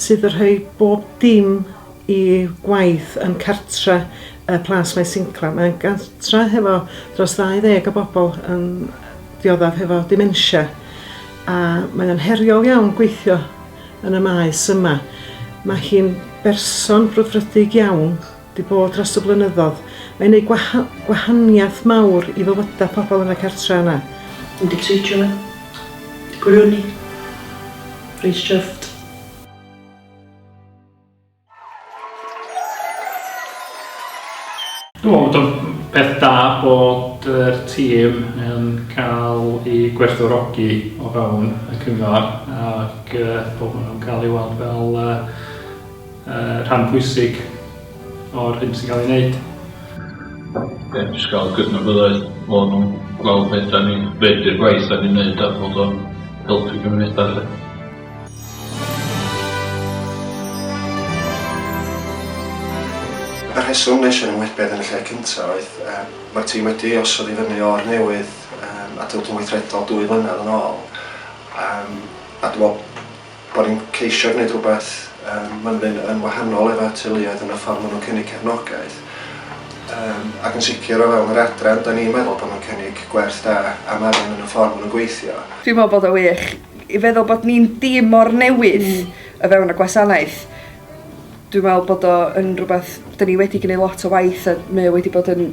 sydd y rhoi bob dim i waith yn cartre y Plas Maes Inclem. Mae'n gartre hefo dros 20 o bobl yn dioddef hefo dementia a mae o'n heriol iawn gweithio yn y maes yma. Mae hi'n berson brwdfrydig iawn 'di bod dros y blynyddodd. Mae'n neud gwaha- gwahaniath mawr i fywyda pobl yn y cartra yna. Dwi 'di tricio fe. Dwi gwirioni. Reit chuffed. Dwi'n meddwl bod o'n peth da bod yr tîm yn cael i gwerthfawrogi o fewn y cyngor ac bod nhw'n cael ei weld fel rhan pwysig o'r hyn sy'n cael ei wneud. Ie, jyst cael cydnabyddiaeth bod nhw'n gweld be dan ni'n, be di'r gwaith dan ni'n wneud a bod o'n helpu cymunedau 'lly. Y rheswm wnes i ymwybedd yn y lle cyntaf oedd, yym, mae'r tîm wedi osod i fyny o'r newydd, yym, adeilad cyn-weithredol dwy flynedd yn ôl, yym, a dwi'n meddwl Bod ni'n ceisio gwneud rhywbeth yym maen nhw'n mynd yn wahanol efo teuluoedd yn y ffordd maen nhw'n cynnig cefnogaeth yym ac yn sicr o fewn yr adran dan ni'n meddwl bod nhw'n cynnig gwerth da am arian yn y ffordd maen nhw'n gweithio. Dwi'n meddwl bod o'n wych i feddwl bod ni'n dîm mor newydd o fewn y gwasanaeth. Dwi'n meddwl bod o yn rhywbeth dan ni wedi gwneud lot o waith a mae o wedi bod yn